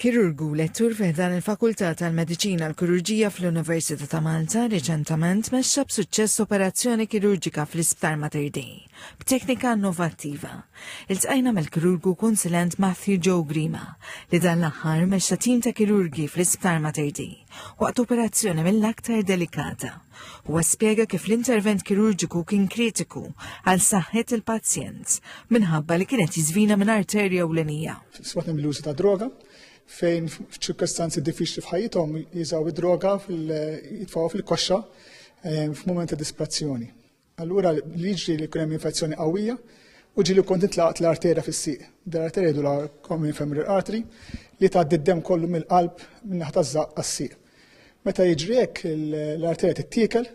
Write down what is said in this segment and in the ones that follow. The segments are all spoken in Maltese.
Kirurgu, lettur fi ħdan il-Fakultà tal-Mediċina l-Kirurġija fl-Università ta' Malta, riċentament mexxa b'suċċess operazzjoni kirurġika fl-Isptar Mater Dei, b'teknika innovattiva. Iltqajna mal-kirurgu kunsilent Matthew Joe Grima, li dan l-aħħar mexxa tim ta' kirurgi fl-Isptar Mater Dei, waqt operazzjoni mill-aktar delikata. Huwa spjega kif l-intervent kirurġiku kien kritiku għal saħħet il-pazjent minħabba li kienet jiżvina minn arterja u l-enija. Sbatna mill-użu ta' droga fejn f'ċirkostanzi diffiċli f'ħajjithom jiżaw id-droga jitfaw fil-koxxa eh, f'mument ta' disprazzjoni. Allura li jiġri li jkun hemm infezzjoni qawwija u ġieli kont intlaqt l-arterja fis-sieq. Dar arterja jdu common femoral artery li tgħaddi d-dem kollu mill-qalb minn naħa taż-żaqq għas-sieq. Meta jiġri hekk l-arterja tittiekel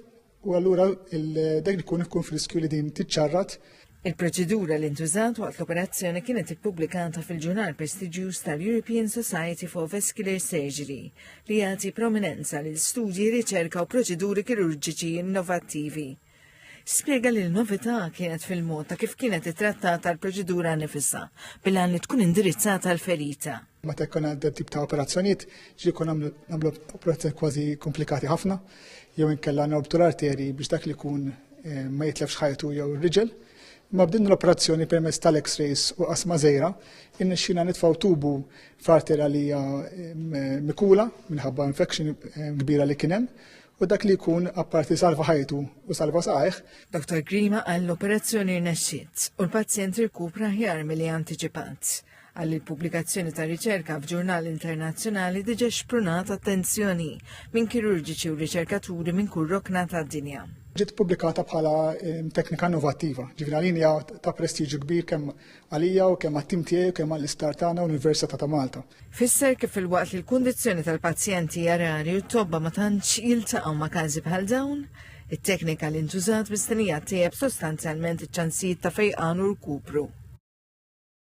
u allura dak li jkun ikun friskju li din tiċċarrat Il-proċedura li ntużat waqt l-operazzjoni kienet ippubblikata fil-ġurnal prestiġjuż tal-European Society for Vascular Surgery. li jagħti prominenza lil studji, riċerka u proċeduri kirurġiċi innovattivi. Spjega li l-novità kienet fil-mod ta' kif kienet ittrattata l-proċedura nifisha bil-għan li tkun indirizzata l-ferita. Meta jkun għandha tip ta' operazzjonijiet, ġi jkun nagħmlu operazzjoni kważi komplikati ħafna, jew inkella norbtu l-arteri biex dak li jkun eh, ma jitlefx ħajtu jew ir-riġel. Ma b'din l-operazzjoni permezz tal-X-rays u qasma żejra, innexxina nitfgħu tubu Farter għalija mikula minħabba infection kbira li kien hemm u dak li jkun apparti salva ħajtu u salva saqajh. Dr. Grima qal l-operazzjoni rnexxiet u l-pazjent irkupra ħjar milli antiċipat. Qal li l-pubblikazzjoni ta' riċerka f'ġurnal internazzjonali diġa xprunat attenzjoni minn kirurġiċi u riċerkaturi minn kull rokna tad-dinja ġiet pubblikata bħala teknika innovattiva. Ġifieri għalin hija ta' prestiġju kbir kemm Għalija u kemm għat-tim tiegħi u kemm għall-isptar tagħna u l-Università ta' Malta. Fisser kif filwaqt li l-kundizzjoni tal-pazjenti hija rari u t-tobba ma tantx jiltaqgħu ma' każi bħal dawn, it-teknika li ntużat mistennija ttejjeb sostanzjalment iċ-ċansijiet ta' fejqan u rkupru.